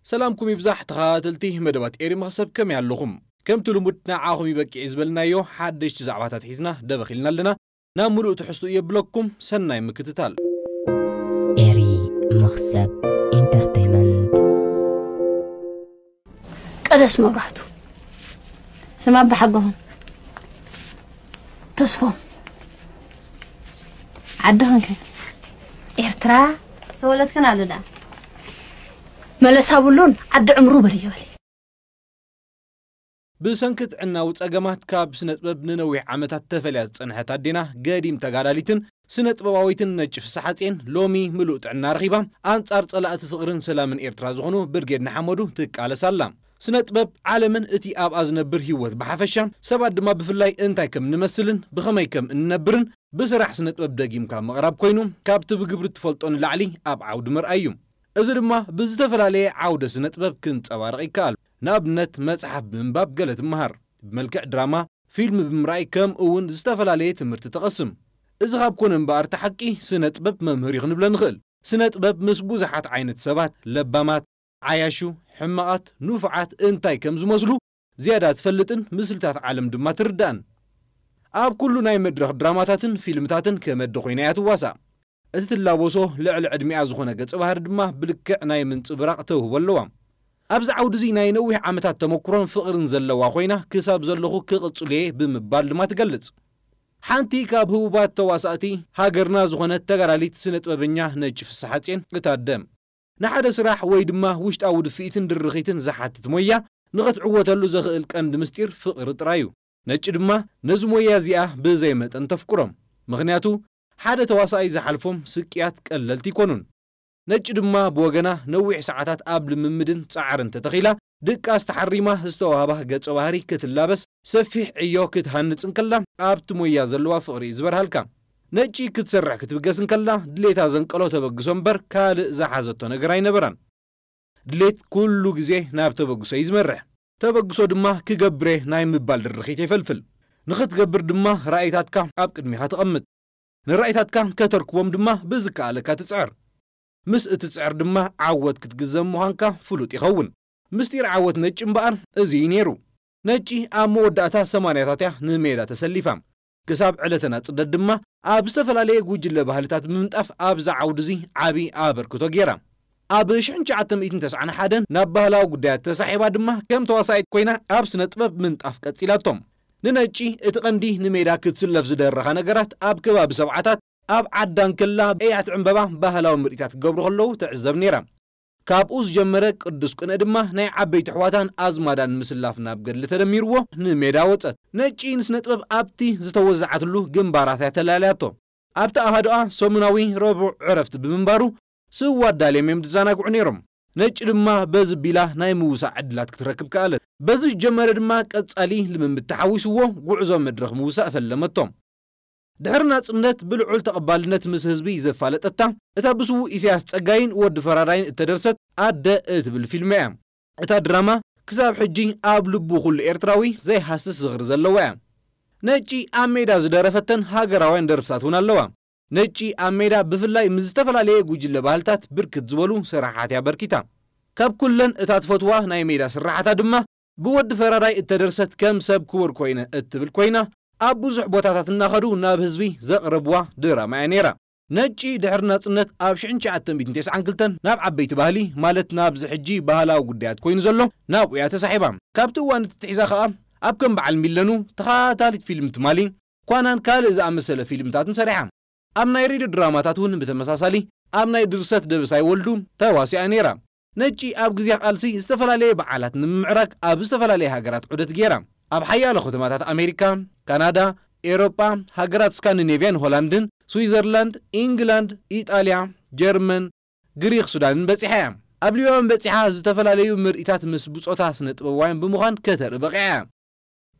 ሰላምኩም ይብዛሕ ተኸታተልቲ መደባት ኤሪ መኽሰብ ከመይ ኣለኹም ከምቲ ልሙድ ንዓኹም እዩ በቂዒ ዝበልናዮ ሓደሽቲ ዛዕባታት ሒዝና ደበኽ ኢልና ኣለና ናብ ምሉእ ትሕዝትኡ የብለኩም ሰናይ ምክትታል። ኤሪ መኽሰብ ኢንተርተይመንት። ቀደስ መብራህቱ ስም ኣባሓጎም ተስፎም ዓዲ ክንከ ኤርትራ ዝተወለድክን ኣሉ ዳ መለሳ ብሉን ዓዲ ዕምሩ በል ይበል ብሰንኪ ጥዕናዊ ጸገማት ካብ ስነጥበብ ንነዊሕ ዓመታት ተፈልያ ዝጸንሐት ኣዴና ገዲም ተጋዳሊትን ስነጥበባዊትን ነጭ ፍስሓጼን ሎሚ ምሉእ ጥዕና ረኺባ ኣንጻር ጸላእቲ ፍቕርን ሰላምን ኤርትራ ዝኾኑ ብርጌድ ንሓመዱ ትቃለስ ኣላ። ስነጥበብ ዓለምን እቲ ኣብኣ ዝነብር ህይወት ብሓፈሻን ሰባት ድማ ብፍላይ እንታይ ከም እንመስልን ብኸመይ ከም እንነብርን ብስራሕ ስነጥበብ ደጊምካ ምቕራብ ኮይኑ ካብቲ ብግብሪ እትፈልጦ ንላዕሊ ኣብ ዓውዲ ምርኣይ እዩ። እዚ ድማ ብዝተፈላለየ ዓውደ ስነጥበብ ክንጸባረቕ ይከኣል። ንኣብነት መጽሓፍ ብምንባብ ገለ ትመሃር፣ ብመልክዕ ድራማ፣ ፊልም ብምርኣይ ከምኡ'ውን ዝተፈላለየ ትምህርቲ ትቐስም። እዚ ካብ ኮነ እምበኣር እቲ ሓቂ ስነጥበብ መምህር እዩ ክንብለ ንኽእል። ስነጥበብ ምስ ብዙሓት ዓይነት ሰባት፣ ለባማት፣ ዓያሹ ሕማቓት ንፉዓት እንታይ ከም ዝመስሉ ዝያዳ ትፈልጥን ምስልታት ዓለም ድማ ትርዳእን። ኣብ ኩሉ ናይ መድረኽ ድራማታትን ፊልምታትን ከመዲ ኮይና እያ ትዋሳእ። እቲ ትላበሶ ልዕሊ ዕድሚኣ ዝኾነ ገጸ ባህሪ ድማ ብልክዕ ናይ ምንጽብራቕ ተውህቦ ኣለዋ። ኣብዚ ዓውዲ እዚ ናይ ነዊሕ ዓመታት ተመኩሮን ፍቕርን ዘለዋ ኮይና ክሳብ ዘለኹ ክቕጽሎ እየ ብምባል ድማ ትገልጽ። ሓንቲ ካብ ህቡባት ተዋሳእቲ ሃገርና ዝኾነት ተጋዳሊት ስነጥበበኛ ነጭ ፍስሓጽየን፣ እታ ኣደ፣ ንሓደ ስራሕ ወይ ድማ ውሽጣዊ ድፍኢትን ድርኺትን ዝሓትት ሞያ ንኸትዕወተሉ ዘኽእል ቀንዲ ምስጢር ፍቕሪ ጥራይ እዩ። ነጭ ድማ ነዚ ሞያ እዚኣ ብዘይ መጠን ተፍቅሮም። ምኽንያቱ ሓደ ተዋሳኣይ ዝሓልፎም ስቅያት ቀለልቲ ኣይኮኑን። ነጭ ድማ ብወገና ነዊሕ ሰዓታት ኣብ ልምምድን ጻዕርን ተተኺላ ድቃስ ተሓሪማ ዝተዋህባ ገጸ ባህሪ ክትላበስ ሰፊሕ ዕዮ ክትሃንጽ እንከላ ኣብቲ ሞያ ዘለዋ ፍቕሪ'ዩ ዝበርሃልካ። ነጪ ክትሰርሕ ክትብገስ እንከላ ድሌታ ዘንቀሎ ተበግሶ እምበር ካልእ ዝሓዘቶ ነገር ኣይነበራን። ድሌት ኩሉ ግዜ ናብ ተበግሶ'ዩ ዝመርሕ። ተበግሶ ድማ ክገብር'የ ናይ ምባል ድርኺት የፈልፍል። ንኽትገብር ድማ ራኢታትካ ኣብ ቅድሚኻ ተቐምጥ። ንራኢታትካ ከተርክቦም ድማ ብዝከኣለካ ትጽዕር። ምስ እትጽዕር ድማ ዓወት ክትግዘም ምዃንካ ፍሉጥ ይኸውን። ምስጢር ዓወት ነጭ እምበኣር እዚ እዩ ነይሩ። ነጭ ኣብ መወዳእታ ሰማንያታት እያ ንሜዳ ተሰሊፋ። ክሳብ ዕለተ ናጽነት ድማ ኣብ ዝተፈላለየ ጉጅለ ባህልታት ብምንጣፍ ኣብዚ ዓውዲ እዚ ዓቢ ኣበርክቶ ገይራ። ኣብ ሽሕን ትሽዓተ ሚእትን ተስዓን ሓደን ናብ ባህላዊ ጉዳያት ተሳሒባ ድማ ከም ተዋሳኢት ኮይና ኣብ ስነ-ጥበብ ምንጣፍ ቀጺላቶ። ንነጭ እቲ ቀንዲ ንሜዳ ክትስለፍ ዝደረኻ ነገራት ኣብ ከባቢ ሰብዓታት፣ ኣብ ዓዳን ክላ ኤያት ዕምበባ ባህላዊ ምርኢታት ክገብሩ ከለዉ ትዕዘብ ነይራ። ካብኡ ዝጀመረ ቅዱስ ቅንኢ ድማ ናይ ዓበይቲ ኣሕዋታን ኣዝማዳን ምስላፍ ናብ ገድሊ ተደሚርዎ ንሜዳ ወጸት። ነጭ ንስነጥበብ ኣብቲ ዝተወዘዓትሉ ግንባራት'ያ ተላልያቶ። ኣብቲ ኣሃዱኣ ሰሙናዊ ረቡዕ ዕረፍቲ ብምንባሩ ስዋ ኣዳልዮም'ዮም ዝዛናግዑ ነይሮም። ነጭ ድማ በዚ ቢላ ናይ ምውሳእ ዕድላት ክትረክብ ከኣለት። በዚ ዝጀመረ ድማ ቀጻሊ ልምምድ ተሓዊስዎ ጉዕዞ መድረኽ ምውሳእ ፈለመቶ። ድሕሪ ናጽነት ብልዑል ተቐባልነት ምስ ህዝቢ ዘፋለጠታ፣ እታ ብስዉእ ኢሳያስ ጸጋይን ወዲ ፈራዳይን እተደርሰት ኣደ እትብል ፊልም'ያ። እታ ድራማ ክሳብ ሕጂ ኣብ ልቡ ኩሉ ኤርትራዊ ዘይሃስስ ዝኽሪ ዘለዋ'ያ። ነጪ ኣብ ሜዳ ዝደረፈተን ሃገራውያን ደርፍታት ውን ኣለዋ። ነጪ ኣብ ሜዳ ብፍላይ ምስ ዝተፈላለየ ጉጅለ ባህልታት ብርክት ዝበሉ ስራሓት'ያ ኣበርኪታ። ካብ ኩለን እታ ትፈትዋ ናይ ሜዳ ስራሓታ ድማ ብወዲ ፈራዳይ እተደርሰት ከም ሰብ ክቡር ኮይነ እትብል ኮይና ኣብ ብዙሕ ቦታታት እናኸዱ ናብ ህዝቢ ዘቕርብዋ ድራማ እያ ነይራ። ነጪ ድሕሪ ናጽነት ኣብ ሽሕን ትሽዓተ ሚእትን ቴስዓን ክልተን ናብ ዓበይቲ ባህሊ ማለት ናብዚ ሕጂ ባህላዊ ጉዳያት ኮይኑ ዘሎ ናብኡ እያ ተሳሒባ። ካብቲ እዋን እቲ ትሒዛ ከኣ ኣብ ከም በዓል ሚለኑ፣ ተኸታታሊት ፊልም ትማሊ፣ ኳናን ካልእ ዝኣመሰለ ፊልምታትን ሰሪሓ። ኣብ ናይ ሬድዮ ድራማታት እውን ብተመሳሳሊ ኣብ ናይ ድርሰት ደበሳይ ወልዱ ተዋሲኣ ነይራ። ነጭ ኣብ ግዜ ቃልሲ ዝተፈላለየ በዓላት ንምምዕራግ ኣብ ዝተፈላለያ ሃገራት ዑደት ገይራ። ኣብ ሓያሎ ከተማታት ኣሜሪካ፣ ካናዳ፣ ኤውሮጳ፣ ሃገራት ስካንዲኔቭያን ሆላንድን፣ ስዊዘርላንድ፣ ኢንግላንድ፣ ኢጣልያ፣ ጀርመን፣ ግሪኽ፣ ሱዳንን በጺሓ እያ። ኣብ ሊባኖን በጺሓ ዝተፈላለዩ ምርኢታት ምስ ብጾታ ስነ-ጥበባውያን ብምዃን ከተርኢ በቒዓ እያ።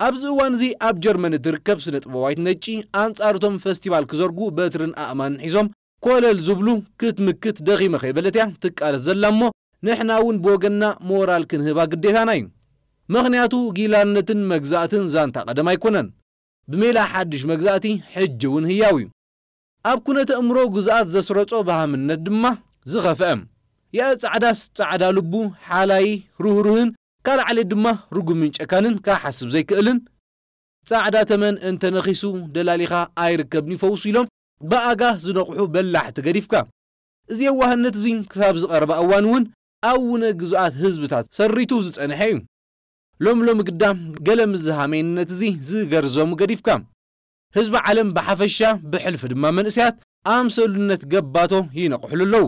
ኣብዚ እዋን'ዚ ኣብ ጀርመን እትርከብ ስነ-ጥበባዊት ነጭ ኣንጻር እቶም ፈስቲቫል ክዘርጉ በትርን ኣእማንን ሒዞም ኮለል ዝብሉ ክትምክት ደኺመ ከይበለት እያ ትቃለስ ዘላ እሞ ንሕና እውን ብወገንና ሞራል ክንህባ ግዴታና እዩ ምኽንያቱ ጊላነትን መግዛእትን ዛንታ ቀደም ኣይኮነን ብሜላ ሓድሽ መግዛእቲ ሕጂ እውን ህያው እዩ ኣብ ኩነተ እእምሮ ግዝኣት ዘስረጾ በሃምነት ድማ ዝኸፈኣ ያእ ጻዕዳስ ጻዕዳ ልቡ ሓላዪ ርህሩህን ካልእ ዓሌት ድማ ርጉምን ጨካንን ካሓስብ ዘይክእልን ጻዕዳ ተመን እንተ ነኺሱ ደላሊኻ ኣይርከብን እዩ ፈውሱ ኢሎም ብኣጋ ዝነቕሑ በላሕቲ ገዲፍካ፣ እዚ የዋህነት እዚ ክሳብ ዝቐረባ እዋን እውን ኣብ ውነ ግዙኣት ህዝብታት ሰሪቱ ዝጸንሐ እዩ። ሎሚ ሎሚ ግዳ ገለ ምስዚ ሃሜንነት እዚ ዝገርዘሙ ገዲፍካ፣ ህዝቢ ዓለም ብሓፈሻ ብሕልፊ ድማ መንእሰያት ኣምሰሉነት ገባቶ ይነቕሕሉ ኣለዉ።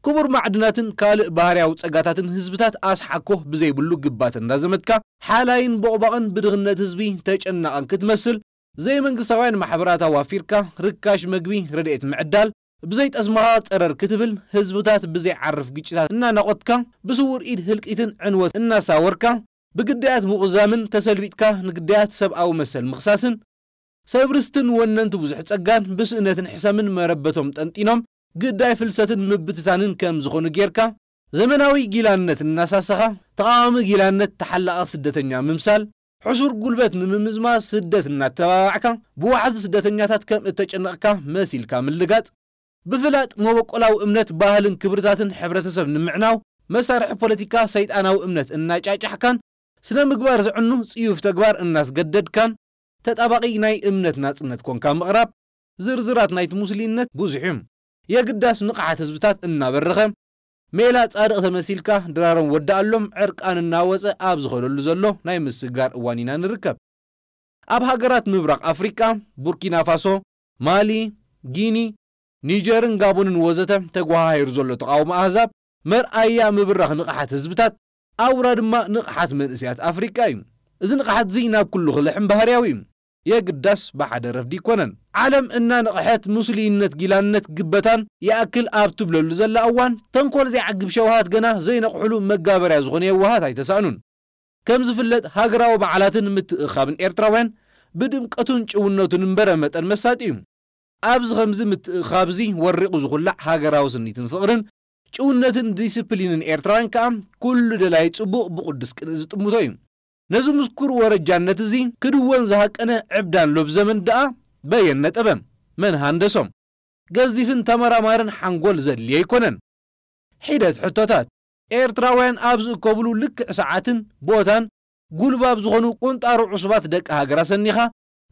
ክቡር ማዕድናትን ካልእ ባህርያዊ ጸጋታትን ህዝብታት ኣስሓኮ ብዘይብሉ ግባት እንዳዘመትካ፣ ሓላይን ቦቕባቕን ብድኽነት ህዝቢ ተጨናቕን ክትመስል ዘይመንግስታውያን ማሕበራት ኣዋፊርካ ርካሽ መግቢ ረድኤት ምዕዳል፣ ብዘይ ጠስምኻ ጸረር ክትብል፣ ህዝብታት ብዘይዓርፍ ግጭታት እናናቖትካ፣ ብስዉር ኢድ ህልቂትን ዕንወትን እናሳወርካ፣ ብግዳያት ምቑዛምን ተሰልቢጥካ ንግዳያት ሰብኣዊ መሰል ምኽሳስን፣ ሰብ ርስትን ወነንቲ ብዙሕ ጸጋን ብስእነትን ሕሰምን መረበቶም ጠንጢኖም ግዳይ ፍልሰትን ምብትታንን ከም ዝኾኑ ጌርካ፣ ዘመናዊ ጊላነት እናሳሰኻ፣ ተቓዋሚ ጊላነት ተሓላቒ ስደተኛ ምምሳል፣ ሕሱር ጉልበት ንምምዝማዝ ስደት እናተባባዕካ ብዋሕዚ ስደተኛታት ከም እተጨነቕካ መሲልካ ምልጋጽ፣ ብፍላጥ መበቆላዊ እምነት፣ ባህልን ክብርታትን ሕብረተሰብ ንምዕናው መሳርሒ ፖለቲካ ሰይጣናዊ እምነት እናጫጫሕካን ስነ ምግባር ዘዕኑ ጽዩፍ ተግባር እናስገደድካን ተጣባቒ ናይ እምነት ናጽነት ኰንካ ምቕራብ ዝርዝራት ናይቲ ሙስሊነት ብዙሕ'ዩ። የግዳስ ንቕሓት ህዝብታት እናበረኸ፣ ሜላ ጻድቕ ተመሲልካ ድራሮም ወደኣሎም ዕርቃን እናወጸ ኣብ ዝኸደሉ ዘሎ ናይ ምስግጋር እዋን ኢና ንርከብ። ኣብ ሃገራት ምብራቕ ኣፍሪቃ፣ ቡርኪናፋሶ፣ ማሊ፣ ጊኒ፣ ኒጀርን ጋቦንን ወዘተ ተጎሃሂሩ ዘሎ ተቓውሞ ኣህዛብ መርኣያ ምብራኽ ንቕሓት ህዝብታት፣ ኣውራ ድማ ንቕሓት መንእሰያት ኣፍሪቃ እዩ። እዚ ንቕሓት'ዚ ናብ ኩሉ ክልሕም ባህርያዊ እዩ። የግዳስ ብሓደ ረፍዲ ኣይኮነን። ዓለም እናነቕሐት ምስሉይነት ጊላነት ግበታን ይኣክል ኣብ ትብለሉ ዘላ እዋን፣ ተንኮል ዘይዓግብ ሸውሃት ገና ዘይነቕሑሉ መጋበርያ ዝኾኑ የዋሃት ኣይተሳእኑን። ከም ዝፍለጥ ሃገራዊ በዓላትን ምትእኽኻብን ኤርትራውያን ብድምቀቱን ጭውነቱን እምበረ መጠን መሳጢ እዩ። ኣብዚ ከምዚ ምትእኽኻብ እዚ ወሪቑ ዝኹላዕ ሃገራዊ ስኒትን ፍቕርን ጭውነትን ዲስፕሊንን ኤርትራውያን ከኣ ኩሉ ደላይ ጽቡቕ ብቁዱስ ቅንኢ ዝጥምቶ እዩ። ነዚ ምስኩር ወረጃነት እዚ ክድወን ዝሃቀነ ዕብዳን ሎብዘመን ደኣ በየን ነጠበ? መን ሃንደሶ? ገዚፍን ተመራማርን ሓንጎል ዘድልዮ ኣይኮነን። ሒደት ሕቶታት። ኤርትራውያን ኣብ ዝእከብሉ ልክዕ ሰዓትን ቦታን ጉልባብ ዝኾኑ ቁንጣሮ ዑሱባት ደቂ ሃገር ኣሰኒኻ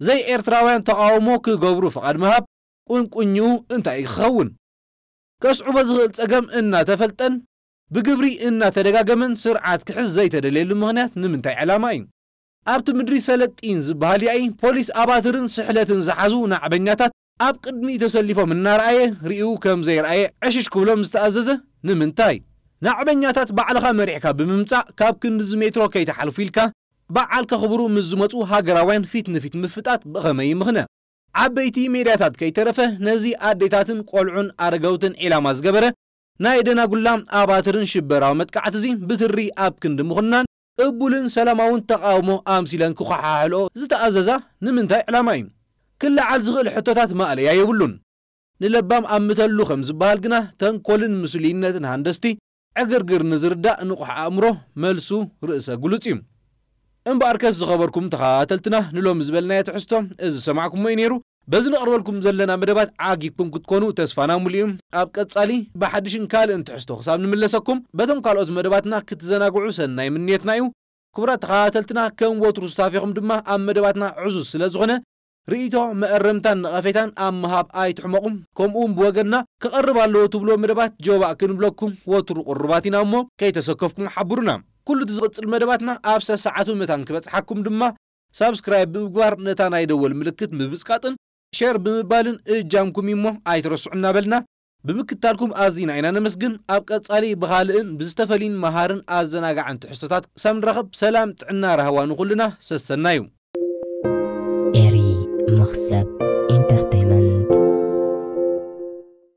ዘይ ኤርትራውያን ተቓውሞ ክገብሩ ፍቓድ ምሃብ ቁንቁኝኡ እንታይ እዩ ክኸውን? ከስዕቦ ዝኽእል ጸገም እናተፈልጠን ብግብሪ እናተደጋገመን ስርዓት ክሕዝ ዘይተደልየሉ ምኽንያት ንምንታይ ዕላማ እዩ? ኣብቲ ምድሪ ሰለጢን ዝበሃል ያኢ ፖሊስ ኣባትርን ስሕለትን ዝሓዙ ናዕበኛታት ኣብ ቅድሚኡ ተሰሊፎም እናረኣየ ሪኡ ከም ዘይረኣየ ዕሽሽ ክብሎም ዝተኣዘዘ ንምንታይ? ናዕበኛታት ባዕልኻ መሪሕካ ብምምጻእ ካብ ክንድዚ ሜትሮ ከይትሓልፉ ኢልካ በዓል ከኽብሩ ምስ ዝመጹ ሃገራውያን ፊት ንፊት ምፍጣጥ ብኸመይ ይምኽነ? ዓበይቲ ሜድያታት ከይተረፈ ነዚ ኣዴታትን ቆልዑን ኣረገውትን ዒላማ ዝገበረ ናይ ደናጉላ ኣባትርን ሽበራዊ መጥቃዕቲ'ዚ ብትሪ ኣብ ክንዲ ምኹናን፣ ቅቡልን ሰላማውን ተቓውሞ ኣምሲለን ክኾሓሕልኦ ዝተኣዘዛ ንምንታይ ዕላማ እዩ? ክለዓል ዝኽእል ሕቶታት ማእለያ የብሉን። ንለባም ኣምተሉ ከም ዝበሃል ግና ተንኮልን ምስሉይነትን ሃንደስቲ ዕግርግር ንዝርዳእ ንቑሕ ኣእምሮ መልሱ ርእሰ ግሉጽ እዩ። እምበኣርከስ ዝኸበርኩም ተኸታተልትና ንሎሚ ዝበልናዮ ትሕዝቶ እዚ ዝሰማዕኩሞ እዩ ነይሩ። በዚ ነቕርበልኩም ዘለና መደባት ዓጊብኩም ክትኮኑ ተስፋና ሙሉእ እዩ። ኣብ ቀጻሊ ብሓድሽን ካልእን ትሕዝቶ ክሳብ ንምለሰኩም በቶም ካልኦት መደባትና ክትዘናግዑ ሰናይ ምንየትና እዩ። ክቡራት ተኸታተልትና ከም ወትሩ ሱታፌኹም ድማ ኣብ መደባትና ዕዙዝ ስለ ዝኾነ ርኢቶ፣ መእረምታን ነቐፌታን ኣብ ምሃብ ኣይትሕመቑ። ከምኡ ውን ብወገንና ክቐርብ ኣለዎ ትብልዎ መደባት ጀባእ ክንብለኩም ወትሩ ቅሩባት ኢና እሞ ከይተሰከፍኩም ሓብሩና። ኩሉ እቲ ዝቕጽል መደባትና ኣብ ሰሰዓቱ መታን ክበጽሓኩም ድማ ሳብስክራይብ ብምግባር ነታ ናይ ደወል ምልክት ምብጽቃጥን ሸር ብምባልን እጃምኩም እዩሞ ኣይትረስዑ እናበልና ብምክትታልኩም ኣዚና ኢና ነመስግን ኣብ ቀጻሊ ብኻልእን ብዝተፈልዩን መሃርን ኣዘናጋዕን ትሕዝቶታት ክሳብ ንራኸብ ሰላም ጥዕና ራህዋ ንኹልና ሰሰናዩ። ኤሪ መኽሰብ ኢንተርተይመንት።